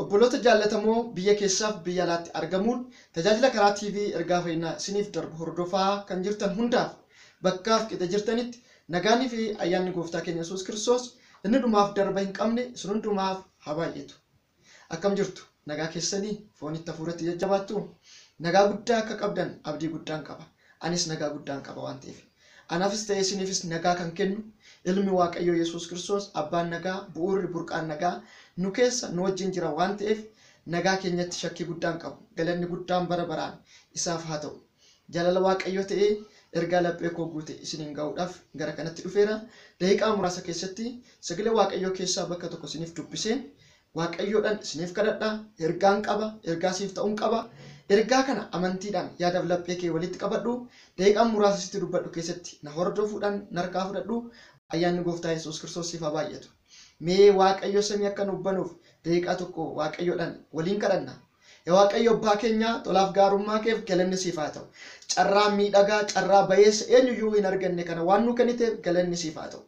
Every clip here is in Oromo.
Obboloota jaallatamoo biyya keessaaf biyya alaatti argamuun tajaajila karaa TV ergaa fayyinaa isiniif darbu hordofaa kan jirtan hundaaf bakkaaf qixa jirtanitti nagaanii fi ayyaanni gooftaa keenya Yesuus Kiristoos inni dhumaaf darba hin qabne isin hundumaaf haa baay'atu. Akkam jirtu? Nagaa keessanii foonitti hafuuratti jajjabaattu? Nagaa guddaa akka qabdan abdii guddaan qaba. Anis nagaa guddaan qaba waan ta'eef. Anaafis ta'ee isiniifis nagaa kan kennu ilmi Waaqayyoo Yesuus Kiristoos abbaan nagaa bu'uurri burqaan nagaa nu keessa nu wajjin jira waan ta'eef nagaa keenyatti shakkii guddaan qabu. Galanni guddaan bara baraan isaaf haa ta'u. Jaalala Waaqayyoo ta'ee ergaa laphee koo guute isiniin ga'uudhaaf gara kanatti dhufeera. Daqiiqaa muraasa keessatti sagalee Waaqayyoo keessaa bakka tokko isiniif dubbiseen Waaqayyoodhan isiniif kadhadha, ergaan qaba, ergaa siif ta'un qaba. Ergaa kana amantiidhaan yaadaf laphee kee walitti qabadhu, daqiiqaan muraasa sitti dubbadhu keessatti na hordofuudhan narkaa fudhadhu. Ayyaanni Gooftaa Yesuus Kiristoos siif haa baay'atu. Mee Waaqayyo samii akka nuuf banuuf daqiiqaa tokko Waaqayyoodhan waliin kadhanna. Ya Waaqayyo Abbaa keenyaa tolaaf gaarummaa keef galanni siif haa ta'u. Carraa miidhagaa, carraa bayeessa eenyuyyuu hin arganne kana waan nuu kenniteef galanni siif haa ta'u.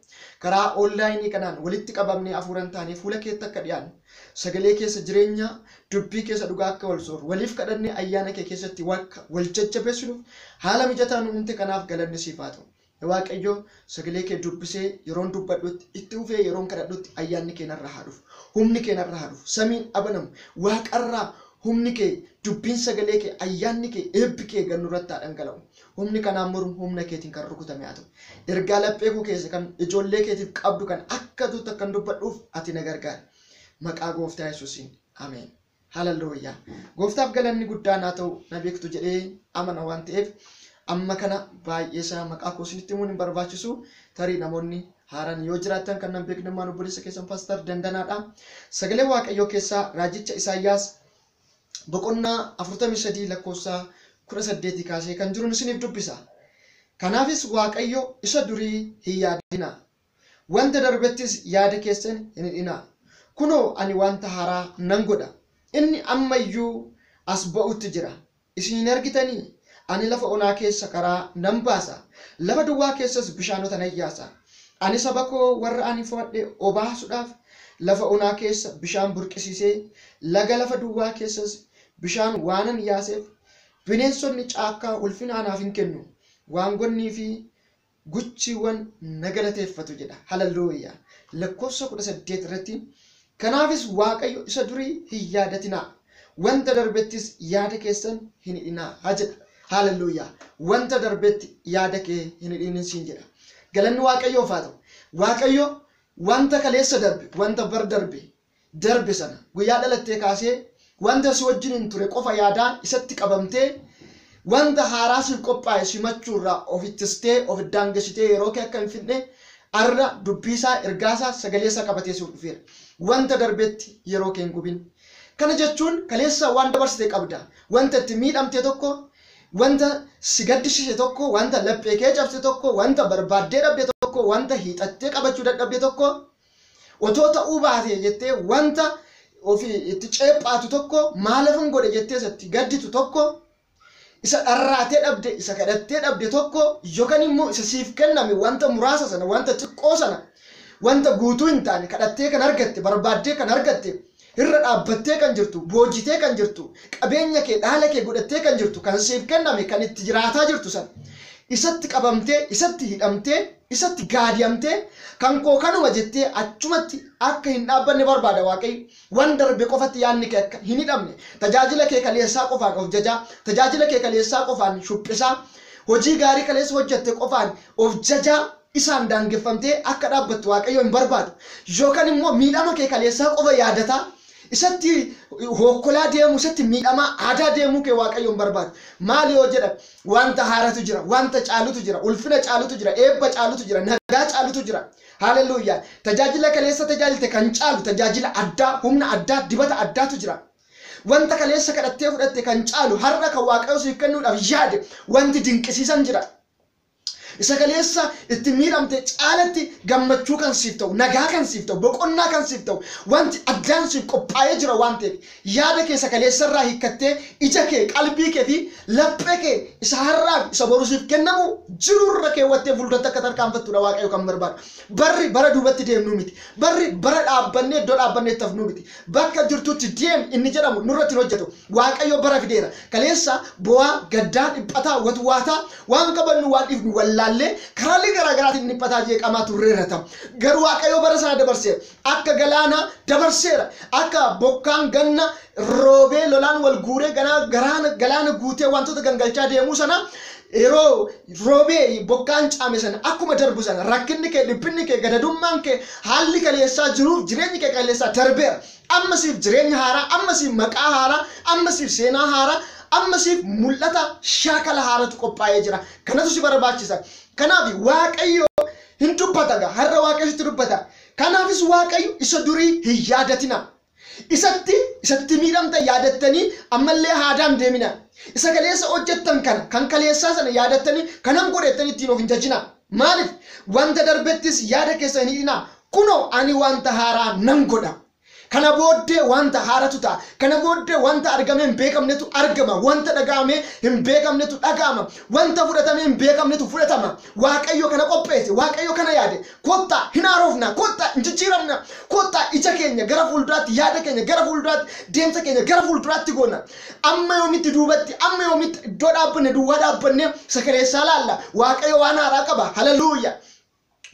Karaa online kanaan walitti qabamnee hafuuran taanee fuula keetti akka dhiyaannu, sagalee keessa jireenya, dubbii keessa dhugaa akka wal sooru, waliif kadhannee ayyaana kee keessatti akka wal jajjabeessinuuf haala mijataa nu uumte kanaaf galanni siif haa ta'u. Yaa Waaqayyo, sagalee kee dubbisee yeroon dubbadhutti, itti fufee yeroon kadhadhutti ayyaanni kee narra haa dhufu. Humni kee narra haa dhufu. Samiin abanamu. Waaqarraa humni kee, dubbiin sagalee kee, ayyaanni kee, eebbi kee gad nurratti haa dhangala'u. Humni kanaan mormu humna keetiin kan rukutame haa ta'u. Ergaa laphee koo keessa kan ijoollee keetiif qabdu kan akka tuutti akkan dubbadhuuf ati na gargaari. Maqaa Gooftaa Yesuusiin. Ameen. Hallelujah. Gooftaaf galanni guddaan haa ta'u na beektu jedhee amana waan ta'eef amma kana baay'ee isaa maqaa koo isinitti himuun hin barbaachisu tarii namoonni haaraan yoo jiraattan kan nan beekne immoo obboleessa keessan paastar dandanaadha. Sagalee Waaqayyoo keessaa raajicha Isaayyaas boqonnaa 43 lakkoofsa 18 kaasee kan jiruun isiniif dubbisa. Kanaafis Waaqayyo isa durii hin yaadina. Wanta darbettis yaada keessan hin hidhinaa. Kunoo, ani wanta haaraa nan godha, inni amma iyyuu as ba'uutti jira. Isin hin argitanii? Ani lafa onaa keessa karaa nan baasa, lafa duwwaa keessas bishaanota nan yaasa. Ani saba koo warra ani fo'adhe obaasuudhaaf lafa onaa keessa bishaan burqisiisee, laga lafa duwwaa keessas bishaan waanan yaaseef, bineensonni caakkaa ulfina anaaf in kennu, waangonnii fi guchiiwwan na galateeffatu jedha. Hallelujah! Lakkoofsa 18 irratti kanaafis Waaqayyo isa durii hin yaadatinaa, wanta darbettis yaada keessan hin hidhinaa jedha. Hallelujah! Wanta darbetti yaada kee hin hidhiin siin jedha. Galanni Waaqayyoof haa ta'u. Waaqayyo wanta kaleessa darbe, wanta bar darbe darbe sana, guyyaa dhalattee kaasee wanta si wajjiniin ture qofa yaadaa isatti qabamtee wanta haaraa siif qophaa'e simachuu irraa of ittistee, of daangessitee yeroo kee akka hin fixne arra dubbii isaa, ergaa isaa, sagalee isaa qabatee siif dhufeera. Wanta darbetti yeroo kee hin gubin. Kana jechuun kaleessa waan dabarsite qabda. Wanta itti miidhamte tokko, wanta si gaddisiise tokko, wanta laphee kee cabse tokko, wanta barbaaddee dhabde tokko, wanta hiixattee qabachuu dadhabde tokko Otoo ta'uu baatee jettee wanta ofi itti ceephaatu tokko maalafin godhe jettee isa itti gadditu tokko isa dharraatee dhabde isa kadhattee dhabde tokko yookan immoo isa siif kenname wanta muraasa sana wanta xiqqoo sana wanta guutuu hin taane kadhattee kan argatte barbaaddee kan argatte Irra dhaabbattee kan jirtu, boojitee kan jirtu, qabeenya kee, dhaala kee godhattee kan jirtu, kan siif kenname, kan itti jiraataa jirtu sana, isatti qabamtee, isatti hidhamtee, isatti gaadi'amtee, kan koo kanuma jettee achumatti akka hin dhaabbanne barbaada Waaqayyo. Waan darbe qofatti yaadni kee akka hin hidhamne, tajaajila kee kaleessaa qofaan of jajaa, tajaajila kee kaleessaa qofaan shuphisaa, hojii gaarii kaleessa hojjette qofaan of jajaa, isaan daangeffamtee akka dhaabbattu Waaqayyo hin barbaadu. Yookan immoo miidhama kee kaleessaa qofa yaadataa isatti hookkolaa deemuu, isatti miidhamaa aadaa deemuu kee Waaqayyo hin barbaadu. Maali yoo jedhan wanta haaratu jira, wanta caalutu jira, ulfina caalutu jira, eebba caalutu jira, nagaa caalutu jira. Haaleluyyaa! Tajaajila kaleessa tajaajilte kan caalu tajaajila addaa, humna addaa, dibata addaatu jira. Wanta kaleessa kadhattee fudhatte kan caalu har'a kan Waaqayyo siif kennuudhaaf yaade wanti dinqisiisan jira. Isa kaleessa itti miidhamte caalatti gammachuu kan siif ta'u, nagaa kan siif ta'u, boqonnaa kan siif ta'u wanti addaan siif qophaa'ee jira waan ta'eef yaada kee isa kaleessa irraa hiikkattee ija kee, qalbii kee fi laphee kee isa har'aa fi isa boru siif kennamu jiru irra keewwattee fuulduratti akka tarkaanfattu dha Waaqayyo kan barbaadu. Barri bara duubatti deemnuu miti. Barri bara dhaabbannee iddoo dhaabbanneetti hafnuu miti. Bakka jirtutti deem inni jedhamu nurratti hin hojjetu. Waaqayyo bara fideera. Kaleessa boo'aa, gaddaa, dhiphataa, watwaataa, waan qabannu waan dhiifnu wallaallee karaalee garaa garaatiin dhiphataa jeeqamaa turreerra ta'a. Garuu Waaqayyo bara sana dabarsee akka galaanaa dabarseera. Akka bokkaan ganna roobee lolaan wal guuree ganaa galaana guutee wantoota gangalchaa deemuu sanaa Yeroo roobee bokkaan caame sana akkuma darbu sana rakkinni kee, dhiphinni kee, gadadummaan kee, haalli kaleessaa, jiruuf jireenyi kee kaleessaa darbeera. Amma siif jireenya haaraa, amma siif maqaa haaraa, amma siif seenaa haaraa, amma siif mul'ata shaakala haaratu qophaa'ee jira. Kanatu si barbaachisa. Kanaaf Waaqayyo hin dubbata gaa har'a Waaqayyo sitti dubbata. Kanaafis Waaqayyo isa durii hin yaadatinaa. Isatti, isatti miidhamtan yaadattanii ammallee haadaan hin deeminaa. Isa kaleessa hojjettan kana, kan kaleessaa sana yaadattanii kanan godhe jettanii ittiin of hin jajinaa. Maaliif? Wanta darbettis yaada keessan hin hidhinaa. Kunoo ani wanta haaraa nan godha. Kana booddee wanta haaratu ta'a. Kana booddee wanta argamee hin beekamnetu argama. Wanta dhaga'amee hin beekamnetu dhaga'ama. Wanta fudhatamee hin beekamnetu fudhatama. Waaqayyo kana qopheesse. Waaqayyo kana yaade. Kottaa hin haarofnaa, kottaa hin jijjiiramnaa, kottaa ija keenya gara fuulduraatti, yaada keenya gara fuulduraatti, deemsa keenya gara fuulduraatti goona. Amma yoomitti duubatti, amma yoomitti iddoo dhaabbanne duwwaa dhaabbannee isa kaleessaa laalla. Waaqayyo waan haaraa qaba. Haleluuya!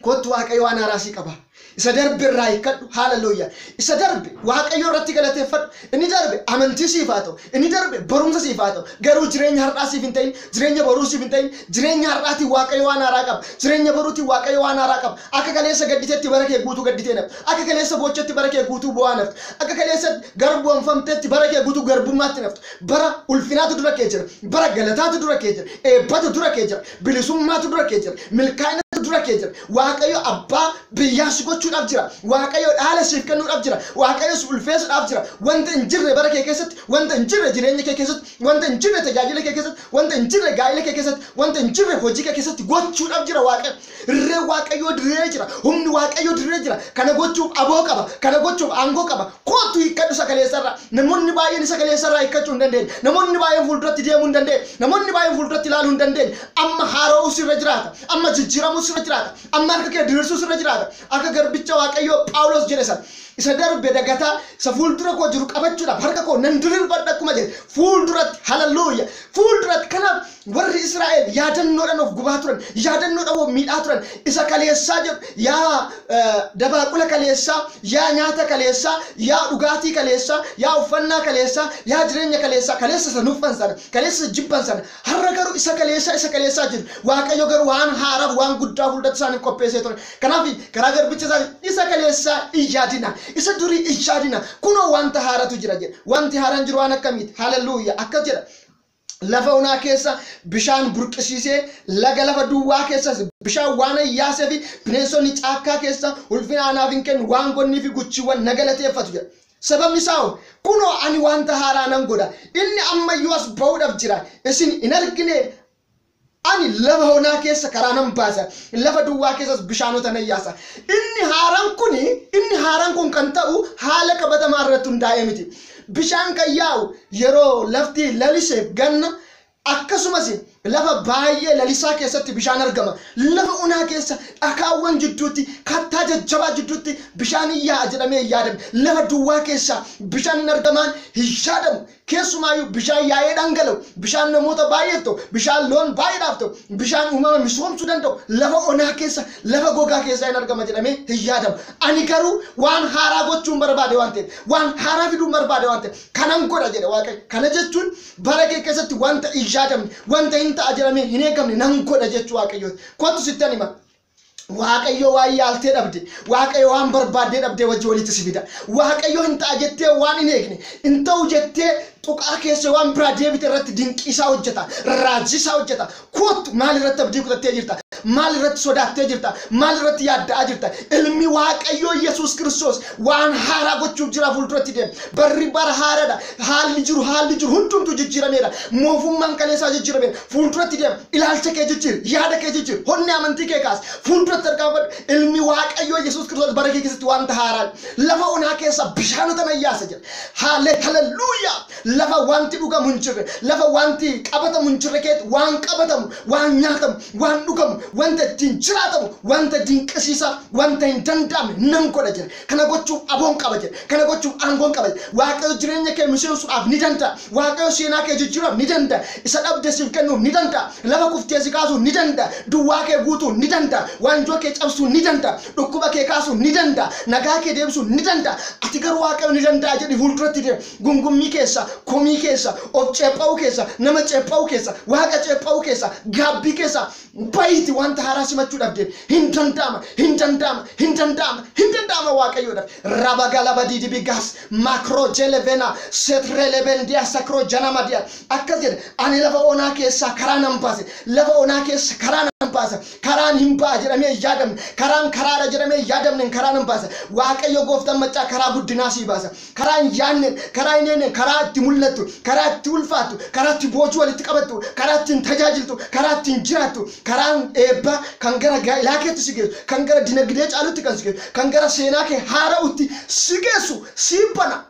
Kottu Waaqayyo waan haaraa sii qaba. Isa darbe irraa hiikkadhu. Haleluuya! Isa darbe Waaqayyo irratti galateeffadhu. Inni darbe amantii siif haa ta'u, inni darbe barumsa siif haa ta'u, garuu jireenya har'aa siif hin ta'in, jireenya boruu siif hin ta'in, jireenya har'aatiin Waaqayyo waan haaraa qaba, jireenya boruutiin Waaqayyo waan haaraa qaba. Akka kaleessa gadditetti bara kee guutuu gadditee hin haftu, akka kaleessa boochetti bara kee guutuu boo'aa hin haftu, akka kaleessa garboomfamtetti bara kee guutuu garbummaatti hin haftu. Bara ulfinaatu dura kee jira, bara galataatu dura kee jira, eebbatu dura kee jira. Bilisummaatu dura kee jira. Milkaa'inatu dura kee jira. Waaqayyo abbaa biyyaa si gochuudhaaf jira. Waaqayyo dhaala siif kennuudhaaf jira. Waaqayyo si ulfeessuudhaaf jira. Wanta hin jirre bara kee keessatti, wanta hin jirre jireenya kee keessatti, wanta hin jirre tajaajila kee keessatti, wanta hin jirre gaa'ila kee keessatti, wanta hin jirre hojii kee keessatti gochuudhaaf jira Waaqayyo. Irreen Waaqayyoo diriiree jira. Humni Waaqayyoo diriiree jira. Kana gochuuf aboo qaba. Kana gochuuf aangoo qaba. Koottu hiikkadhu isa kaleessa irraa. Namoonni baay'een isa kaleessa irraa hiikkachuu hin dandeenye. Namoonni baay'een fuulduratti deemuu hin dandeenye. Namoonni baay'een fuulduratti ilaaluu hin dandeenye. Amma haara'uu sirra jiraata. Amma jijjiiramuu sirra jiraata. Amma harka kee diriirsuu sirra jiraata. Akka garbicha Waaqayyoo Phaawulos jedhe sana, Isa darbe dagataa, isa fuuldura koo jiru qabachuudhaaf harka koo nan diriirfadha akkuma jedhe, fuulduratti, haleluuyaa, fuulduratti. Kanaaf Warri Israa'el yaadannoodhaan of gubaa turan, yaadannoodhaan of miidhaa turan. Isa kaleessaa jedhu, yaa dabaaqula kaleessaa, yaa nyaata kaleessaa, yaa dhugaatii kaleessaa, yaa uffannaa kaleessaa, yaa jireenya kaleessaa, kaleessa isa nuffan sana, kaleessa isa jibban sana. Har'a garuu isa kaleessaa, isa kaleessaa jedhu. Waaqayyo garuu waan haaraaf, waan guddaa fuulduratti isaaniif qopheessee ture. Kanaaf karaa garbicha isaatiin isa kaleessaa hin yaadina, isa durii hin yaadina, kunoo wanta haaratu jira jedhe. Wanti haaraan jiru waan akkamiiti? Haalelluuyyaa! Akkas jedha. lafa onaa keessa bishaan burqisiisee, laga lafa duwwaa keessas bishaan waanan yaaseefi bineensonni caakkaa keessa ulfina anaaf in kennu, waangonniifi guchiiwwan na galateeffatu jedha. Sababni isaa hoo? Kunoo, ani wanta haaraa nan godha, inni amma iyyuu as ba'uudhaaf jira, isin hin arginee? Ani lafa onaa keessa karaa nan baasa, lafa duwwaa keessas bishaanota nan yaasa. Inni haaraan kun, inni haaraan kun kan ta'u haala qabatamaa irratti hundaa'ee miti. Bishaan kan yaa'u yeroo lafti lalise, ganna, akkasumas lafa baay'ee lalisaa keessatti bishaan argama. Lafa onaa keessa dhakaawwan jidduutti, kattaa jajjabaa jidduutti bishaan in yaa'a jedhamee hin yaadamu. Lafa duwwaa keessaa bishaan in argamaan hin yaadamu. Keessumaayuu bishaan yaa'ee dhangala'u, bishaan namoota baay'eef ta'u, bishaan loon baay'eedhaaf ta'u, bishaan uumama misoomsuu danda'u lafa onaa keessa, lafa gogaa keessaa in argama jedhamee hin yaadamu. Ani garuu waan haaraa gochuun barbaade waan ta'eef, waan haaraa fiduun barbaade waan ta'eef, kanan godha jedhe Waaqayyo. Kana jechuun bara kee keessatti wanta hin yaadamne, wanta in ta'a jedhamee hin eegamne nan godha jechuu Waaqayyooti. Kottu sittan hima. Waaqayyo waan yaaltee dhabde, Waaqayyo waan barbaaddee dhabdee wajji walitti si fida. Waaqayyo hin ta'a jettee waan hin eegne, hin ta'u jettee tuqaa keessee waan biraa deebite irratti dinqii isaa hojjeta, raajii isaa hojjeta. Koottu maal irratti abdii kutattee jirta? Maal irratti sodaattee jirta? Maal irratti yaadda'aa jirta? Ilmi Waaqayyoo Yesuus Kiristoos waan haaraa gochuuf jira fuulduratti deema. Barri bara haaraadha. Haalli jiru haalli jiru hundumtuu jijjiirameera. Moofummaan kaleessaa jijjiirameera. Fuulduratti deema. Ilaalcha kee jijjiiri. Yaada kee jijjiiri. Honnee amantii kee kaasi. Fuulduratti tarkaanfadhu. Ilmi Waaqayyoo Yesuus Kiristoos bara kee keessatti wanta haaraa lafa onaa keessaa bishaanota nan yaasa jedha. Haalee haleluuyaa! Lafa wanti dhugamu hin jirre, lafa wanti qabatamu hin jirre keetti waan qabatamu, waan nyaatamu, waan dhugamu, wanta ittiin jiraatamu, wanta dinqisiisaa, wanta hin danda'amne nan godha jedha. Kana gochuuf aboon qaba jedhe. Kana gochuuf aangoon qaba jedhe. Waaqayyo jireenya kee miseensuudhaaf ni danda'a. Waaqayyo seenaa kee jijjiiruudhaaf ni danda'a. Isa dhabde siif kennuuf ni danda'a. Lafa kuftee si kaasuuf ni danda'a. Duwwaa kee guutuuf ni danda'a. Waanjoo kee cabsuuf ni danda'a. Dhukkuba kee kaasuuf ni danda'a. Nagaa kee deebisuuf ni danda'a. Ati garuu Waaqayyo ni danda'a jedhii fuulduratti deemi. Gungummii keessa, komii keessa, of ceepha'uu keessa, nama ceepha'uu keessa, Waaqa ceepha'uu keessa, gaabbii keessa Bayiiti wanta haaraa simachuu dhabdeen hin danda'ama hin danda'ama hin danda'ama hin danda'ama waaqayyoodhaaf rabagalabadii dibigaas makroo jelevena setrelebendiyaa sakroo janamadiyaa akkas jedhe ani lafa onaa keessaa karaa nan baase lafa onaa keessa karaa nan baasa karaan hin ba'a jedhamee hin yaadamne karaan karaadha jedhamee hin yaadamneen karaa nan baasa waaqayyo gooftaan maccaa karaa guddinaa sii baasa karaa hin yaadneen, karaa hin eegneen, karaa itti mul'attu, karaa itti ulfaattu, karaa itti boojuu walitti qabattu, karaa ittiin tajaajiltu, karaa ittiin jiraattu, karaan eebbaa kan gara gaa'ilaa keetti si geessu, kan gara dinagdee caalutti kan si geessu, kan gara seenaa kee haara'utti si geessu siif bana.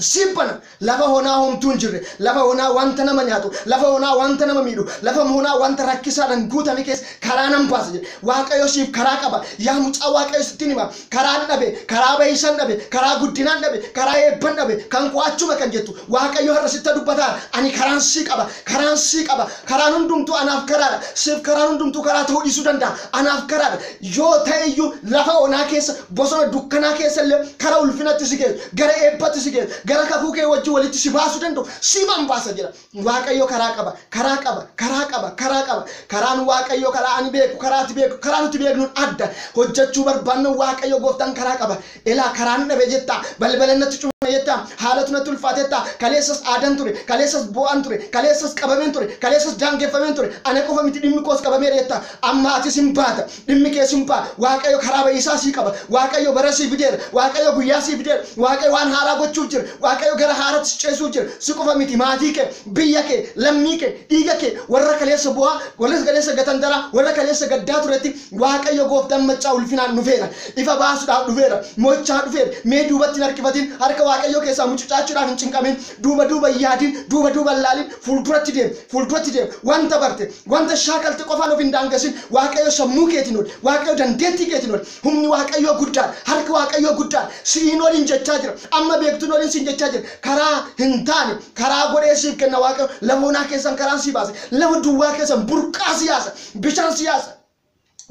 Siif bana. Lafa honaa homtuu hin jirre, lafa honaa wanta nama nyaatu, lafa honaa wanta nama miidhu, lafa honaa wanta rakkisaadhaan guutame keessa karaa nan baasa jedhe. Waaqayyo siif karaa qaba. Yaa mucaa Waaqayyo sittin hima. karaan dhabe, karaa bayisan dhabe, karaa guddinaan dhabe, karaa eebban dhabe, kan koo achuma kan jettu, Waaqayyo har'a sitta dubbataara. Ani karaan sii qaba, karaan sii qaba, karaan hundumtuu anaaf karaadha. Siif karaan hundumtuu karaa ta'uu dhiisuu danda'a. Anaaf karaadha. Yoo ta'e iyyuu lafa onaa keessa, bosona dukkanaa keessa illee kara ulfinatti si geessu, gara eebbatti si geessu, gara kakuu kee wajjin walitti si baasuu danda'u siifan baasa jedha. Waaqayyo karaa qaba, karaa qaba, karaa qaba, karaa qaba. Karaan Waaqayyo karaa ani beeku, karaa ati beeku, karaa nuti beeknuun adda. Hojjechuu barbaanna Waaqayyo gooftaan karaa qaba. Elaa karaan dhabe jetta, balbalan natti cufame jetta, haalatu natti ulfaate jetta, kaleessas aadan ture, kaleessas boo'an ture, kaleessas qabameen ture, kaleessas daangeffameen ture, ana qofa miti dhimmi koos qabameera jetta. Amma atis hin baata. Dhimmi kee simpa. Waaqayyo karaa ba'iisaa sii qaba. Waaqayyo bara sii fideera. Waaqayyo guyyaa sii fideera. Waaqayyo waan haaraa gochuuf jira. Waaqayyo gara haaraatti si ceesisuuf jira. Si qofa miti, maatii kee, biyya kee, lammii kee, dhiiga kee, warra kaleessa boo'aa, warra kaleessa gatantaraa, warra kaleessa gaddaa turetti Waaqayyo gooftaan maccaa ulfinaan dhufeera. Ifa baasuudhaaf dhufeera. Mo'ichaa dhufeera. Mee duubatti hin harkifatin. Harka Waaqayyoo keessaa mucucaachuudhaaf hin cinqamin. Duuba duuba hin yaadin. Duuba duuba hin laalin. Fuulduratti deemi. Fuulduratti deemi. Wanta barte. Wanta shaakalte qofaan of hin daangessin. Waaqayyo sammuu keetiin oli. Waaqayyo dandeettii keetiin oli. Humni Waaqayyoo guddaadha. Harki Waaqayyoo guddaadha. Si'iin oliin jechaa jira. Amma beektuun oliin siin jechaa jira. Karaa hin taane karaa godhee siif kenna Waaqayyo. Lafa onaa keessaan karaan sii baasa. Lafa duwwaa keessaan burqaa si yaasa. Bishaan si yaasa.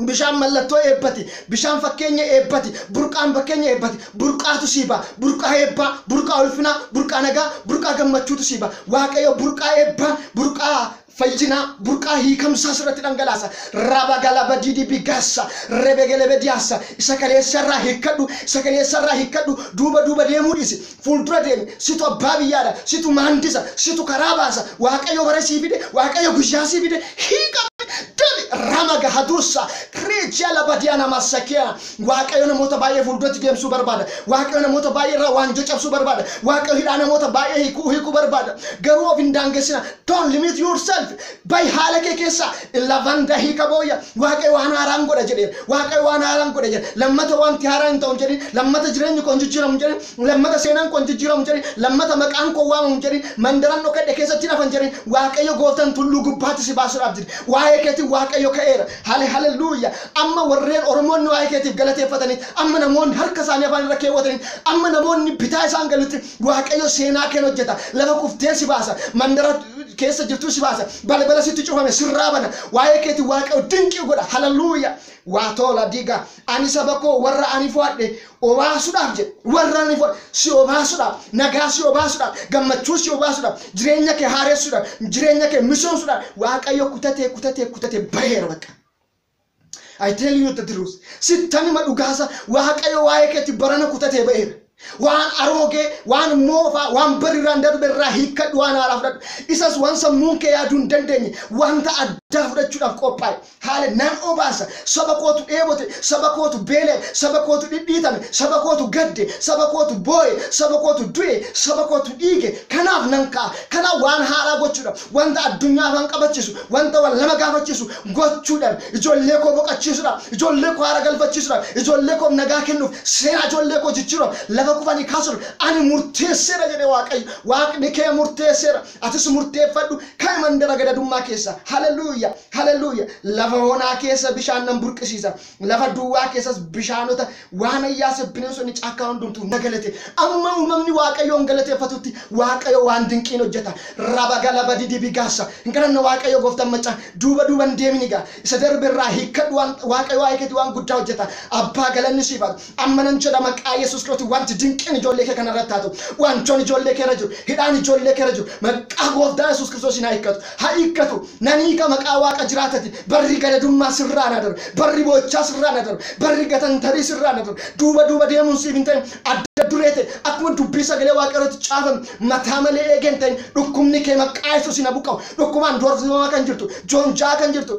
Bishaan mallattoo eebbati. Bishaan fakkeenya eebbati. Burqaan fakkeenya eebbati. Burqaatu sii ba'a. Burqaa eebbaa, burqaa ulfinaa, burqaa nagaa, burqaa gammachuutu sii ba'a. Waaqayyo burqaa eebbaa, burqaa fayyinaa, burqaa hiikamsaa sirratti dhangalaasa. Rabagalabadidibigaassa, rebegelebediyaassa. Isa kaleessarraa hiikkadhu, isa kaleessarraa hiikkadhu. Duuba duuba deemuu dhiisi. fuuldura deemi, situ abbaa biyyaadha, situ maandisa, situ karaa baasa, Waaqayyo bara sii fide, Waaqayyo guyyaa sii fide, hiiqame, dami, rama gahaduussa, reejia labadia nama sakia, Waaqayyo namoota baay'ee fuulduratti deemsuu barbaada, Waaqayyo namoota baay'ee irraa waanjoo cabsuu barbaada, Waaqayyo hidhaa namoota baay'ee hiikuu hiikuu barbaada, garuu of hin daangessina, don't limit yourself, Ba'i haala kee keessaa. Lavanda hiika booya. Waaqayyo waan haaraan godha jedheera. Waaqayyo waan haaraan godha jedhe. Lammata wanti haaraan hin ta'u hin jedhin. Lammata jireenyi koo hin jijjiiramu hin jedhin. Lammata seenaan koo hin jijjiiramu hin jedhin. Lammata maqaan koo waamamu hin jedhin. Mandaran dhokadhe keessatti hin hafa hin jedhin. Waaqayyo gooftaan tulluu gubbaatti si baasuudhaaf jira. Waa'ee keetiin Waaqayyo ka'eera. Hale haleluuya. Amma warreen Oromoonni waa'ee keetiif galateeffatanitti, amma namoonni harka isaanii afaan irra keewwatanitti, amma namoonni bitaa isaan galutti, Waaqayyo seenaa keen hojjeta. Lafa kufteen si baasa. Mandara keessa jirtuu si baasa. Balbala sitti cufame sirraa bana. Waa'ee keetiin Waaqayyo dinqii godha. Haleluuya! Waatoola diiga. Ani saba koo warra ani fo'adhe obaasuudhaaf jedhe. Warra ani fo'adhe si obaasuudhaaf, nagaa si obaasuudhaaf, gammachuu si obaasuudhaaf, jireenya kee haaressuudhaaf, jireenya kee misoomsuudhaaf Waaqayyo kutatee kutatee kutatee baheera bakka. I tell you the truth. Sittan hima dhugaasa waaqayyo waa'ee keetti barana kutatee ba'eera. Waan aroogee, waan moofaa, waan barirraan darbe irraa hiikkadhu waan haaraa fudhadhu. Isas waan sammuun kee yaaduu hin dandeenye wanta addaa fudhachuudhaaf qophaa'e. Haala nan obaasa. Saba kootu dheebote, saba kootu beela'e, saba kootu dhidhiitame, saba kootu gadde, saba kootu boo'e, saba kootu du'e, saba kootu dhiige. Kanaaf nan ka'a. Kanaaf waan haaraa gochuudhaaf. Wanta addunyaa afaan qabachiisu, wanta wal nama gaafachiisu gochuudhaan ijoollee koo boqachiisuudhaaf, ijoollee koo haara galfachiisuudhaaf, ijoollee koof nagaa kennuuf, seenaa ijoollee koo jijjiiruudhaaf, lafa kufanii kaasuudhaaf ani murteesseera jedhe Waaqayyo. Waaqni kee murteesseera. Atis murteeffadhu, ka'i mandara gadadummaa keessaa. Haleluuyaa! Haleluuyaa! Lafa onaa keessa bishaan nan burqisiisa. Lafa duwwaa keessas bishaanota waan ayyaase bineensonni caakkaa hundumtuu na galate. Amma uumamni Waaqayyoon galateeffatutti Waaqayyo waan dinqii hin hojjeta. Raba galaba didibi gaassa. Hin kadhanna Waaqayyo gooftan macca. Duuba duuba hin deemini gaa. Isa darbe irraa hiikkadhu waan Waaqayyo waa'ee keetii waan guddaa hojjeta. Abbaa galanni siif haa ta'u. Amma nan jedha maqaa Yesuus Kiristootiin wanti dinqiin ijoollee kee kana irratti haa ta'u. Waanjoon ijoollee kee irra jiru, hidhaan ijoollee kee irra jiru maqaa gooftaa Yesuus Kiristoosiin haa hiikkatu. Haa hiikkatu. Nan hiika maqaa Waaqa jiraatatiin. Barri gadadummaa sirraan haa darbu. Barri boo'ichaa sirraan haa darbu. Barri gatantarii sirraan haa darbu. Duuba duuba deemuun siif hin ta'in. Adda duree ta'e akkuma dubbii sagalee Waaqayyoo irratti caafame mataa malee eegee hin ta'in. Dhukkubni kee maqaa Yesuusiin haa buqqa'u. Dhukkubaan doorsifamaa kan jirtu, joonja'aa kan jirtu,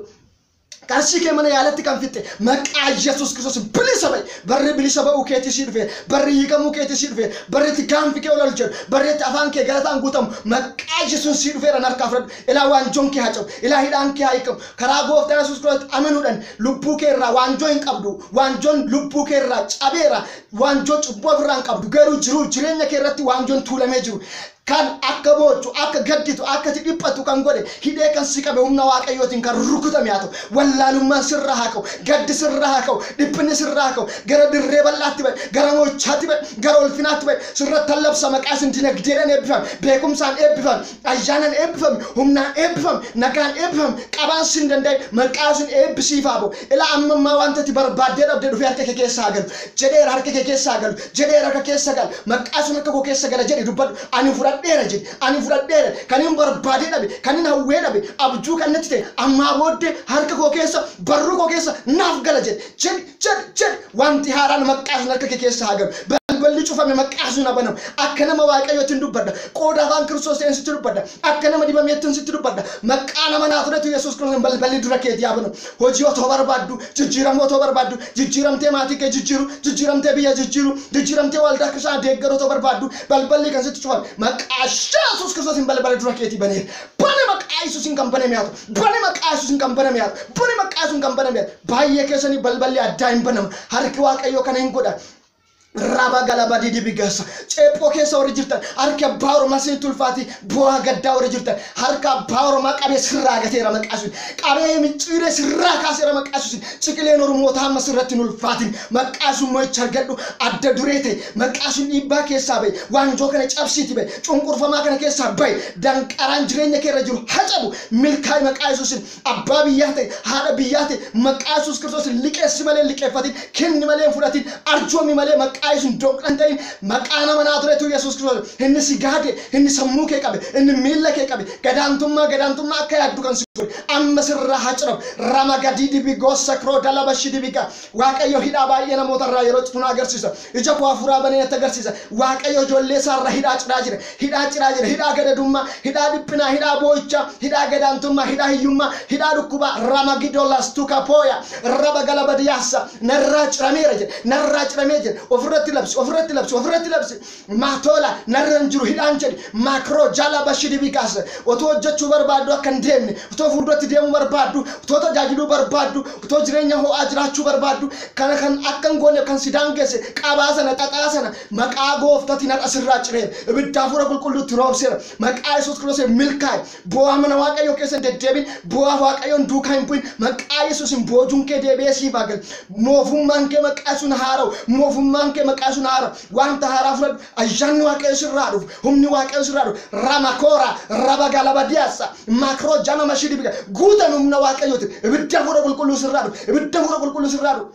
Qarshii kee mana yaalatti kan fixxe maqaa Yesuus Kiristoosiin bilisa ba'i. Barri bilisa ba'uu keetii sii dhufeera. Barri hiikamuu keetii sii dhufeera. Barri itti gaanfi kee ol ol jedhu. Barri itti afaan kee galataan guutamu maqaa Yesuusiin sii dhufeera na harkaa fudhadhu. Ilaa waanjoon kee haa cabu. Ilaa hidhaan kee haa hiikamu. Karaa gooftaa Yesuus Kiristoositti amanuudhaan lubbuu kee irraa waanjoo hin qabdu. Waanjoon lubbuu kee irraa cabeera. Waanjoo cubbuu ofirraa hin qabdu. Garuu jiruuf jireenya kee irratti waanjoon tuulamee jiru Kan akka boochu, akka gadditu, akka ati dhiphattu kan godhe, hidhee kan si qabe humna Waaqayyootiin kan rukutame haa ta'u. Wallaalummaan sirraa haa ka'u, gaddi sirraa haa ka'u, dhiphinni sirraa haa ka'u. Gara dirree bal'aatti ba'i, gara mo'ichaatti ba'i, gara ulfinaatti ba'i. Sirrattan labsa maqaa Yesuusiin dinagdeedhaan eebbifami, beekumsaan eebbifami, ayyaanan eebbifami, humnaan eebbifami, nagaan eebbifami, qabaan sin danda'in maqaa Yesuusiin eebbi siif haa ba'u. Ilaa amma ammaa wanti ati barbaaddee dhabde dhufee harka kee keessa haa galu. Jedheera harka kee keessa haa galu. jedheera harka keessa gala, maqaa sun harka koo keessa gala jedhi dubbadhu. Ani fudhadheera jedhi. Ani fudhadheera. Kanin barbaadee dhabe, kanin hawwee dhabe, abjuu kan natti ta'e ammaa booddee harka koo keessa, barruu koo keessa naaf gala jedhi. Jedhi, jedhi, jedhi. Wanti haaraan maqaa sun harka kee keessa haa galu. Balballi cufame maqaa sun haa banamu. Akka nama Waaqayyoottin dubbadha. Qooda afaan Kiristoos ta'een sitti dubbadha. Akka nama dibameettin sitti dubbadha. Maqaa nama Naazreetu Yesuus Kiristoosiin balballi dura keetii haa banamu. Hojii otoo barbaaddu, jijjiiramuu otoo barbaaddu, jijjiiramtee maatii kee jijjiiru, jijjiiramtee biyya jijjiiru, jijjiiramtee waldaa kiristaanaa deeggaru otoo barbaaddu, balballi kan sitti cufame maqaa Yesuus Kiristoosiin balbala dura keetii baneera. Bani maqaa Yesuusiin kan baname haa ta'u. Bani maqaa Yesuusiin kan baname haa ta'u. Bani maqaa Yesuusiin kan baname haa ta'u. Baay'ee keessanii balballi addaa hin banama. Harki Waaqayyoo kana hin godha. Raba galaba didibi gasa. Ceephoo keessa warri jirtan harki abbaa oromaa siin tulfaati bu'aa gaddaa warri jirtan harka abbaa oromaa qabee sirraa gateera maqaasuun qabee micciiree sirraa kaaseera maqaasuun ciqileen oromootaa amma sirratti hin ulfaatin maqaasuun mo'icha argadhu adda duree ta'e maqaasuun dhiibbaa keessaa bahe waanjoo kana cabsiiti bahe cunqurfamaa kana keessaa bahe danqaraan jireenya keerra jiru hacabu milkaa'e maqaa yesuusin Abbaa biyyaa ta'i, haadha biyyaa ta'i, maqaa Yesuus Kiristoosiin liqeessi malee hin liqeeffatin, kenni malee hin fudhatin, arjoomi malee maqaa Yesuusiin doqna hin ta'in, maqaan amanaa turetu Yesuus Kiristoos, inni si gaade, inni sammuu kee qabe, inni miilla kee qabe, gadaantummaa gadaantummaa akka yaaddu kan si godhe, amma sirraa haa ciramu, Rama Gadidibi Gossa Krodalaba Shidibiga, Waaqayyo hidhaa baay'ee namoota irraa yeroo citu na agarsiisa. Ija koo hafuuraa banee natti agarsiisa. Waaqayyo ijoollee isaa irraa hidhaa ciraa jira. Hidhaa ciraa jira. Hidhaa gadadummaa, hidhaa dhiphinaa, hidhaa boo'ichaa, hidhaa gadaantummaa, hidhaa hiyyummaa, hidhaa dhukkubaa, ramagidolas tukapooya, raba galabadiyaassa, narraa cirameera jedhe. Narraa ciramee jedhe. Ofirratti labsi, ofirratti labsi, ofirratti labsi. Maatoola narra hin jiru hidhaan jedhi. Maakroo Jaalaa Bashir Ibigaas otoo hojjechuu barbaaddu akka hin deemne, otoo fuulduratti deemuu barbaaddu, otoo tajaajiluu barbaaddu, otoo jireenya ho'aa jiraachuu barbaaddu kana kan akka hin gooneef kan si daangesse qabaa sana, xaxaa sana maqaa Gooftatiin har'a sirraa cireera. Ibidda Hafuura Qulqulluutti roobseera. Maqaa Yesuus Kiristoosiin milkaa'i. Boo'aa mana Waaqayyoo keessa hin deddeebiin, boo'aa Waaqayyoon duukaa hin bu'in. Maqaa Yesuusiin boojuun kee deebi'ee siif haa galu. Moofummaan kee maqaa Yesuusiin haa haara'u. Moofummaan kee maqaa Yesuusiin haa haara'u. Wanta haaraa fudhadhu. Ayyaanni Waaqayyoo sirraa haa dhufu. Humni Waaqayyoo sirraa haa dhufu. Ramakoora, Rabagalabadiyaassa, Makroo Jama Mashidibiga. Guutan humna Waaqayyootiin. Ibidda hafuura qulqulluu sirraa dhufu. Ibidda hafuura qulqulluu sirraa dhufu.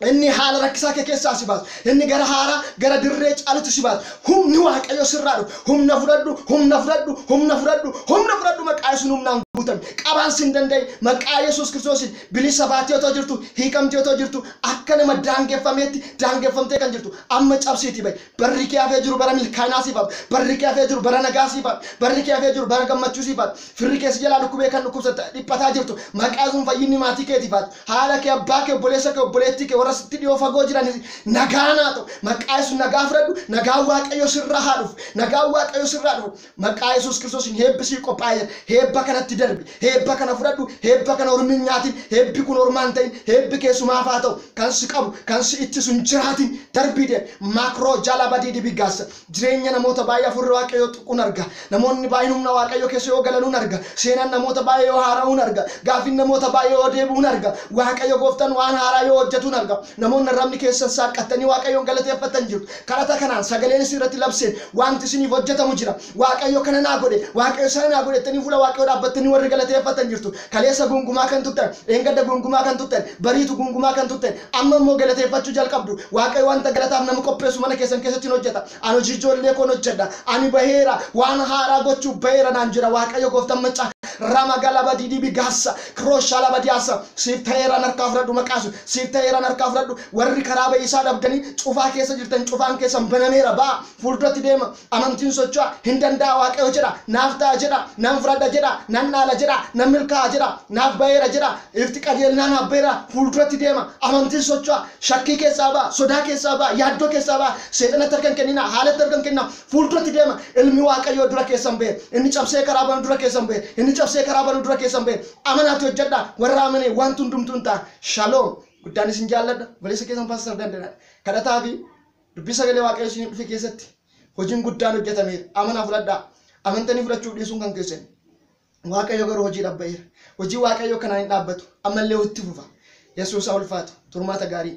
Inni haala rakkisaa kee keessaa si baasa. Inni gara haaraa, gara dirree caalutti si baasa. Humni Waaqayyoo sirraa dhufa. Humna fudhadhu, humna fudhadhu, humna fudhadhu, humna fudhadhu maqaa Yesuusiin humnaan guutami. Qabaan sin danda'in maqaa Yesuus Kiristoosiin bilisa baatee otoo jirtu, hiikamtee otoo jirtu akka nama daangeffameetti daangeffamtee kan jirtu amma cabsiitii ba'i. Barri kee hafee jiru bara milkaa'inaa siif haa Barri kee hafee jiru bara nagaa siif haa Barri kee hafee jiru bara gammachuu siif haa Firri kee si jalaa dhukkubee kan dhukkubsatta dhiphataa jirtu maqaa Yesuusiin fayyinni maatii keetiif haa ta'u haadha kee abbaa kee obboleessa kee obboleettii kee warra sitti dhiyoo fagoo jiranis nagaan haa ta'u maqaa Yesuusiin nagaa fudhadhu nagaan waaqayyoo sirraa haa dhufu nagaan waaqayyoo sirraa dhufu Maqaa Yesuus Kiristoosiin heebbi siif qophaa'ee jira. Heebba kanatti darbi. Heebba kana fudhadhu. Heebba kana ormi hin nyaatin. Heebbi kun ormaa hin ta'in. Heebbi kee sumaaf haa ta'u. Kan si qabu, kan si ittisu hin jiraatin. Darbii deemi. Maakroo jaalaa badii dibii gaassa. Jireenya namoota baay'ee Hafuurri Waaqayyoo tuquun arga. Namoonni baay'een humna Waaqayyoo keessa yoo galanuun arga. Seenaan namoota baay'ee yoo haara'uun arga. Gaaffiin namoota baay'ee yoo deebi'uun arga. Waaqayyo Gooftaan waan haaraa yoo hojjetuun arga. Namoonni arrabni keessan saaqqattanii Waaqayyoon galateeffattan jirtu. Kadhata kanaan sagaleen isin irratti labse, Waanti isiniif hojjetamu jira. Waaqayyo kana naa godhe, Waaqayyo sana naa godhe jettanii fuula Waaqayyoo dhaabbattanii warri galateeffattan jirtu. Kaleessa guungumaa kan turtan, dheengadda guungumaa kan turtan, bariitu guungumaa kan turtan, amma immoo galateeffachuu jalqabdu. Waaqayyo wanta galataaf nama qopheessu mana keessan keessatti in hojjeta. Ani hojii ijoollee koo in hojjedha. Ani baheera, waan haaraa gochuuf baheera naan jedha Waaqayyo gooftan maccaa. Ramagalabadidibi gassa, kroshalabadiasa, siif ta'eeraan harkaa fudhadhu maqaa Yesuus, siif ta'eeraan harkaa fudhadhu. Warri karaa ba'iisaa dhabdanii cufaa keessa jirtan cufaan keessan banameera ba'aa, fuulduratti deema, amantiin socho'a, hin danda'a Waaqayyo jedha, naaf ta'a jedha, nan fudhadha jedha, nan dhaala jedha, nan milkaa'a jedha, naaf ba'eera jedha, ifti qajeelnaa naaf ba'eera, fuulduratti deema, amantiin socho'a, shakkii keessaa ba'a, sodaa keessaa ba'a, yaaddoo keessaa ba'a, seexanatti harka hin kenninaa, haalatti harka hin kenninaa, fuulduratti deema, ilmi Waaqayyoo dura keessan ba'e, inni cabsee karaa banu dura keessan ba'e, inni cabsee karaa banu dura keessan ba'e, amanaati hojjedhaa, warra amanee wanti hundumtuu hin ta'a. Shalom. Guddaan isin jaalladha. Obboleessa keessan Pastor Dandanaa. Kadhataa fi dubbii sagalee Waaqayyoo isin dhufe keessatti hojiin guddaan hojjetameera. Amanaa fudhadhaa. Amantanii fudhachuuf dhiisuun kan keessan. Waaqayyo garuu hojii dhabba'eera. Hojii Waaqayyoo kanaan hin dhaabbatu. Ammallee itti fufa. Yesuus haa ulfaatu. Turmaata gaarii.